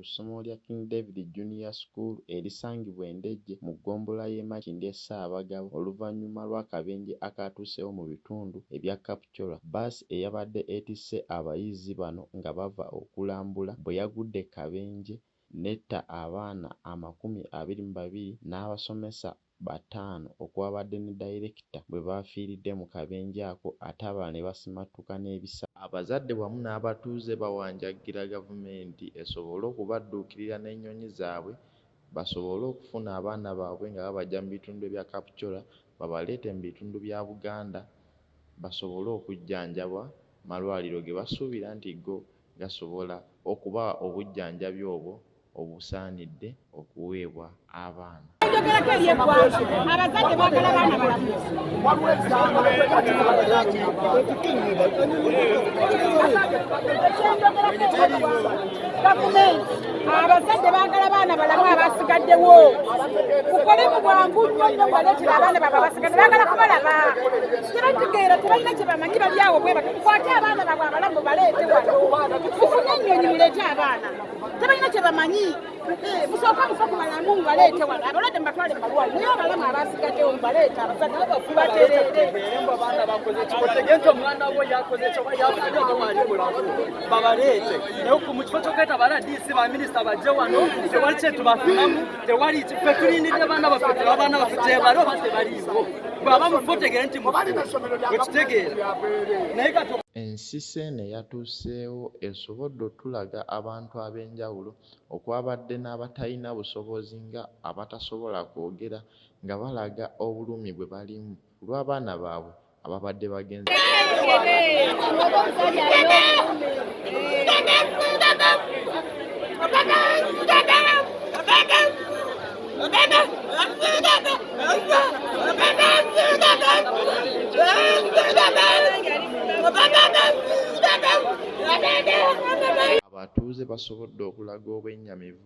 ssomo lya King David Junior School erisangibwa e Ndejje mu ggombolola y'e Makindye Ssaabagabo oluvannyuma lw'akabenje akaatuuseewo mu bitundu ebya Kap Kyolwa bus eyabadde etisse abayizi bano nga bava okulambula bwe yagudde e Kabenje n'etta abaana amakumi abiri mu babiri n'abasomesa bataano okwabadde ne dayirekita bwe baafiiridde mu kabenje ako ate abalala ne basimattuka n'ebisago. Abazadde wamu n'abatuuze bawanjaggira Gavumenti esobole okubadduukirira n'ennyonyi zaabwe basobole okufuna abaana baabwe nga babaggya mu bitundu ebya Kapchorwa babaleete mu bitundu bya Buganda basobole okujjanjabwa malwaliro ge basuubira nti go gasobola okubawa obujjanjabi obwo obusaanidde okuweebwa abaana. Ayogerako eri eggwanga, abazadde baagala baana balamu. Gavumenti abazadde baagala baana balamu abasigaddewo mukole mu bwangu nnyo nnyo mubaletera abaana baba basigadde baagala kubalaba tebategeera tebalina kye bamanyi bali awo bwe bati mukwate abaana babwe abalamu baleete wano mufune ennyonyi muleete abaana tebalina kye bamanyi eh, musooka mufa ku balamu mubaleete wano abalwadde mubatwale mubalwali naye abalamu abasigaddewo mubaleete abazadde babafubaterere babaleete naye ku mu kifo ky'okweta ba rdc ba minisita bajje wano tewali kyetubafunamu tewali fe tulindidde baana baffe teba baana baffe gyebali oba tebaliiwo bwaba mufotegere nti mukitegeera naye kati Ensisi eno eyatuuseewo esobodde otulaga abantu ab'enjawulo okwabadde n'abatalina busobozi nga abatasobola kwogera nga balaga obulumi bwe balimu ku lw'abaana baabwe ababadde bagenze abatuuze basobodde okulaga obwennyamivu